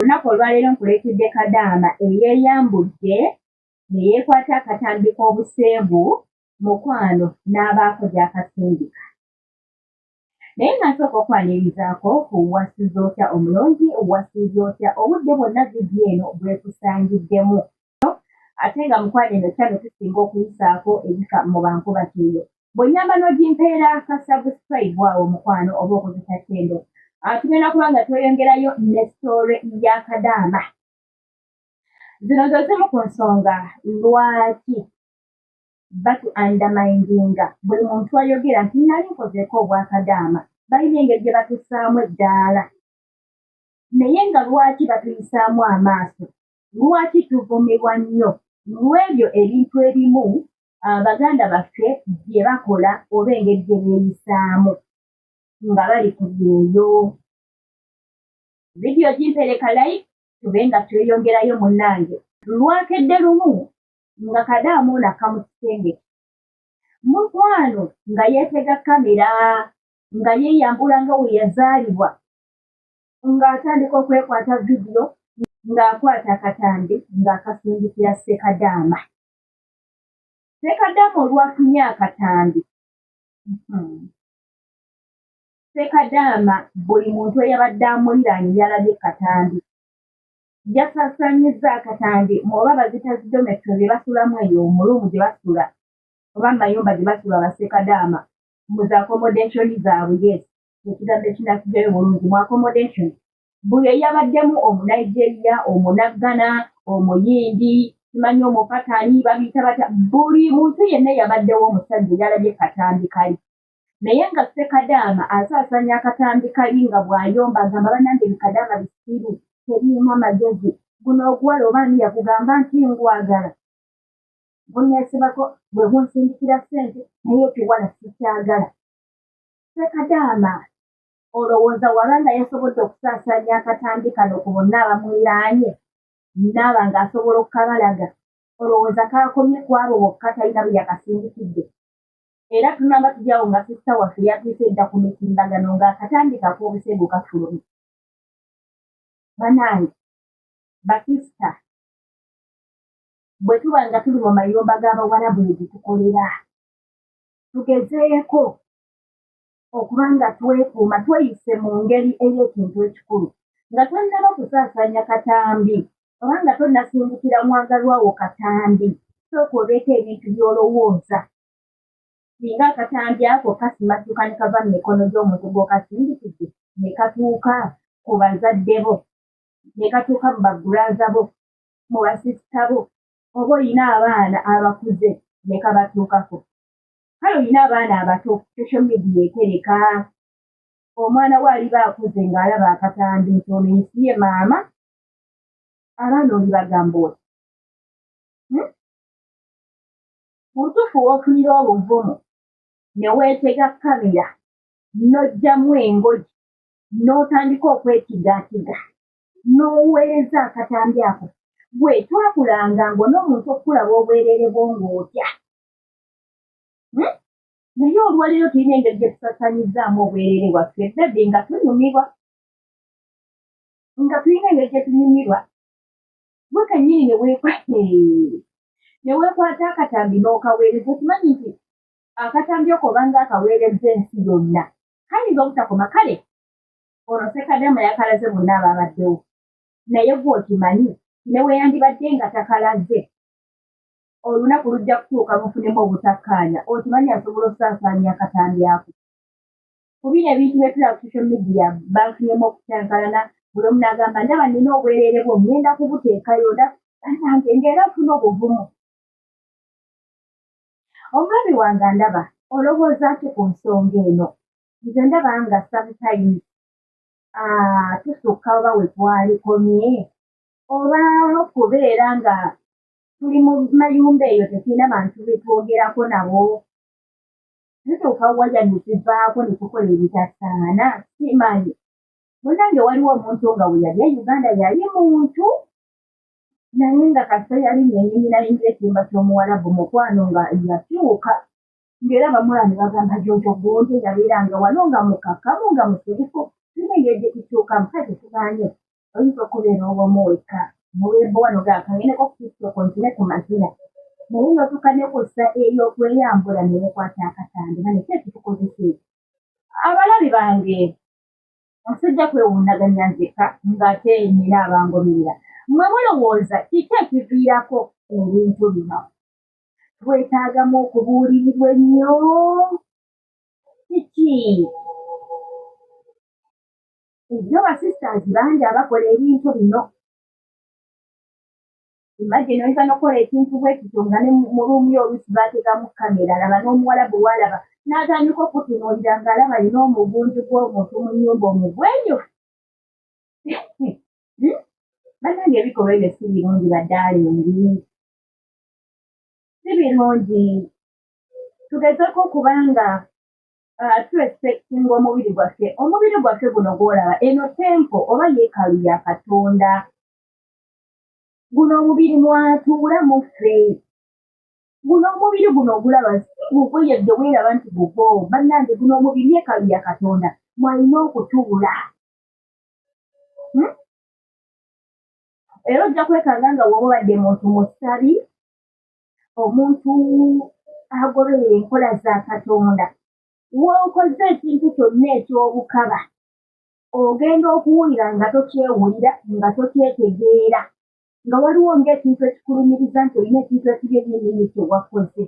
Olunaku olwaleero nkuleetedde kadaama eyeeyambudde ne yeekwata akatambi k'obuseegu mukwano n'abaako gy'akasindika. Naye nga nsooka okwanirizaako ku wasuze otya omulungi, wasuze otya obudde bwonna vidiyo eno bwekusangiddemu. ate nga mukwano eno kyano tusinga okuyisaako ebifa mu bankuba kyeyo bwenyamba n'ogimpeera ka subscribe awo mukwano oba okozesa kyendo atugenda kuba nga tweyongerayo ne story ya kadaama zino zo zimu ku nsonga lwaki batu andamindinga buli muntu ayogera nti nali nkozeeko obwakadaama balina engeri gye batusaamu eddaala naye nga lwaki batuyisaamu amaaso Lwaki tuvumibwa nnyo? Lw'ebyo ebintu ebimu ah, baganda baffe bye bakola oba engeri gye beeyisaamu nga bali ku byeyo. Vidiyo gimpereka layi tube nga tweyongerayo munnange. Lwakedde lumu nga kadaama ono akka mu kisenge mukwano nga yeetega kamera nga yeeyambula nga we yazaalibwa ng'atandika okwekwata vidiyo ng'akwata akatambi ng'akasindikira ssekadaama ssekadaama olwafunye akatambi hmm. ssekadaama buli muntu eyabadde amuliraanye yalabye katambi yasasanyiza akatambi oba bazita zidometo bye basulamu eyo omulumu gye basula oba mayumba gye basula basekadaama mu zakomodeshoni zaabwe yes ekigambo ekinakugera obulungi mu accommodation buli eyabaddemu omunigeria omunaggana omuyindi simanyi omupatani babiyita batya buli muntu yenna eyabaddewo omusajja eyalabye katambi kali naye nga sekadaama asaasanya akatambi kali nga bw'ayomba agamba banange bikadaama bisiru tebirina magezi guno oguwala obaani yakugamba nti ngwagala guneesibako bwe gunsindikira ssente naye ekiwala sikyagala Sekadaama olowooza waba nga yasobodde okusaasaanya akatambi kano ku bonna abamuliraanye naaba nga asobola okukabalaga olowooza kaakomye ku abo bokka talina bwe yakasindikidde era tunamba tujyawo nga sisita waffe yatuuse edda ku mitimbagano ng'akatambi kak'obusegu kafulumi banange basisita bwe tuba nga tuli mu mayumba g'abawalabu ne gitukolera tugezeeko okuba nga twekuuma tweyise mu ngeri ey'ekintu ekikulu nga tonnaba kusaasaanya katambi oba nga tonnasindikira mwagalwawo katambi sooka obeeko ebintu by'olowooza singa akatambi ako kasimattuka ne kava mu mikono gy'omuntu gw'okasindikidde ne katuuka ku bazadde bo ne katuuka mu bagulaza bo mu basisita bo oba olina abaana abakuze ne kabatuukako kale olina abaana abato social media etereka omwana we aliba akuze ng'alaba akatambi nti ono ensi ye maama abaana oli bagamba oti hmm? mu butuufu woofunira obuvumu ne weetega kamera n'ojjamu engoji n'otandika okwetigaatiga n'oweereza akatambi ako gwe twakulanga ng'ona omuntu okukulaba obwereere bwo ng'otya hmm? naye olwaleero tulina engeri gye tusasanyizzaamu obwereere bwaffe bebi nga tunyumirwa nga tulina engeri gye tunyumirwa gwe kennyini ne weekwate ne weekwata akatambi n'okaweereza okimanyi nti akatambi oko obanga akaweereza ensi yonna kayinza obutakoma kale olwo sekadama yakalaze bonna ababaddewo naye gwe okimanyi neweyandibadde nga takalaze olunaku lujja kutuuka mufunemu obutakkaanya okimanyi asobola okusaasaanya akatambi ako ku bino ebintu byetula ku social media banfunyemu okucankalana buli omu nagamba ndaba nina obwerere bwo ngenda kubuteekayo da anange ngaera ofuna obuvumu omwami wange ndaba olowooza ki ku nsonga eno nze ndaba nga sometime ah, tusukka oba wetwalikomye oba kubeera nga tuli mu mayumba eyo tetulina bantu betwogerako nabo tutuuka waya netuvaako netukola ebitasaana simanyi munange waliwo omuntu nga weyali e uganda yali muntu naye nga kasita yali nenyinyi nalinga ekyumba ky'omuwalabu mukwano nga yakyuka ng'era bamulaba ne bagamba jojo gonde yabeeranga wano nga mukakamu nga musirifu tulina engeri gye tukyuka musajja tugaanye oyinza okubeera owomu wekka muwembo wano gaakayeneko ku tiktoko ntine ku mazina naye notuka ne ku ssa ey'okweyambula ne wekwata akatande nga nekyo ekitukozesa ekyo abalabi bange nsijja kwewuunaganya nzeka ng'ate nina abangoberera mwe mulowooza kiki ekiviirako ebintu bino twetaagamu okubuulirirwa ennyo kiki ebyo basisters bangi abakola ebintu bino imagine oyinza nokukola ekintu bwekityo nga ne mu ruumu yo oluusi baatekamu kamera laba n'omuwala bwe walaba n'atandika okutunuulira ng'alaba alina omugunju gw'omuntu mu nnyumba omugwenyufu hmm? banange ebikolwa ebyo si birungi badaalingi si birungi tugezeko okuba nga uh, turespectinga omubiri gwaffe omubiri gwaffe guno gwolaba eno tempo oba yeekalu ya katonda guno omubiri mwatuula muffe guno omubiri guno ogulaba si gugwe yadde weeraba nti gugwo bannange guno omubiri yeekalu ya katonda mwalina okutuula hmm? era ojja kwekanga nga woba obadde muntu musabi omuntu agoberera enkola za katonda wokoze ekintu kyonna ekyobukaba ogenda okuwulira nga tokyewulira nga tokyetegeera nga waliwo ngaekintu ekikulumiriza nti olina ekintu ekibi enyenyini kyewakoze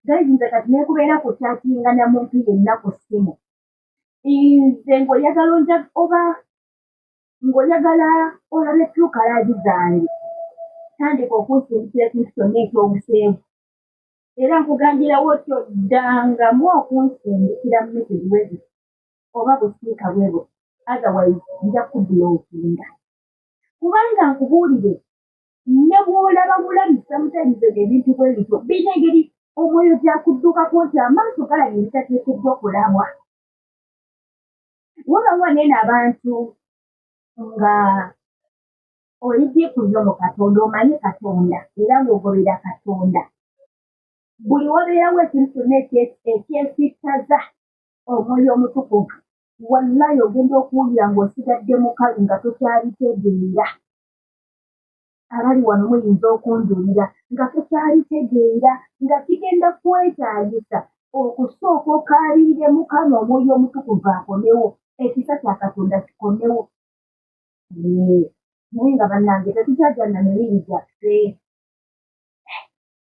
gaizinze kati nekubeera ku kyakinga na muntu yenna ku ssimu nze ngaoyagala onja oba ng'oyagala olabe tukalaazi zange tandika okunsindikira ekintu kyonna ekyobuseegu era nkugambirawo otyo ddangamu okunsindikira mumesezi wezi oba busiika bwebo otherwise nja kubbula obusinga kubanga nkubuulire ne bw'olaba bulabi sometimes ebyo ebintu bwe bityo birina engeri omwoyo gyakudduukako nti amaaso galaba ebitateekeddwa kulabwa wabawa nene abantu nga oli dikuyo mu katonda omanyi katonda era ng'ogobera katonda buli wabeerawo ekintu kyonna ekyesittaza omwoyo omutukuvu wallayi ogenda okuwulira ng'osigadde mukalu nga tokyalitegeera abali wano muyinza okunjulira nga tukyalitegeera nga kigenda kwetaagisa okusooka okaabirire mukama omwoyo omutukuvu akomewo ekisa kya katonda kikomewo naye nga bannange tetukyajana mibiri gyaffe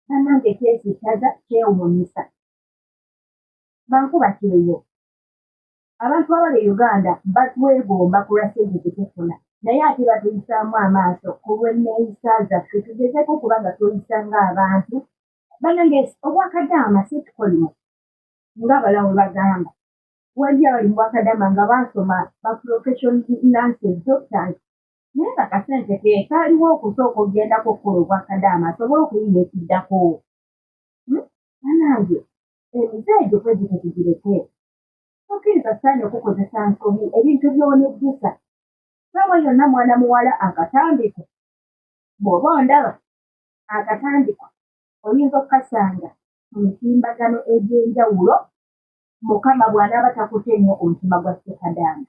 bannange kyesittaza kyewuunyisa bankuba kyeyo abantu abali e uganda batwegomba kulwa sente zetufuna naye ate batuyisaamu amaaso ku lw'enneeyisa zaffe tugezeeko okuba nga tweyisa ng'abantu banange obwakadaama si tukolimo ng'abalawo bagamba wali abali mu bwakadaama nga baasoma baprofession nances doctors naye nga kasente ke kaaliwo okusooka okugendako okukola obwakadaama asobole okuyiya ekiddako hmm? banange emize egyo kwegite tugireke tokkiriza sitaani okukozesa nsobi ebintu by'onejjusa saawa yonna mwana muwala akatandiko bw'oba ondaba akatandiko oyinza okukasanga mu mitimbagano egy'enjawulo mukama bw'anaaba takute nnyo omutima gwa ssekadaama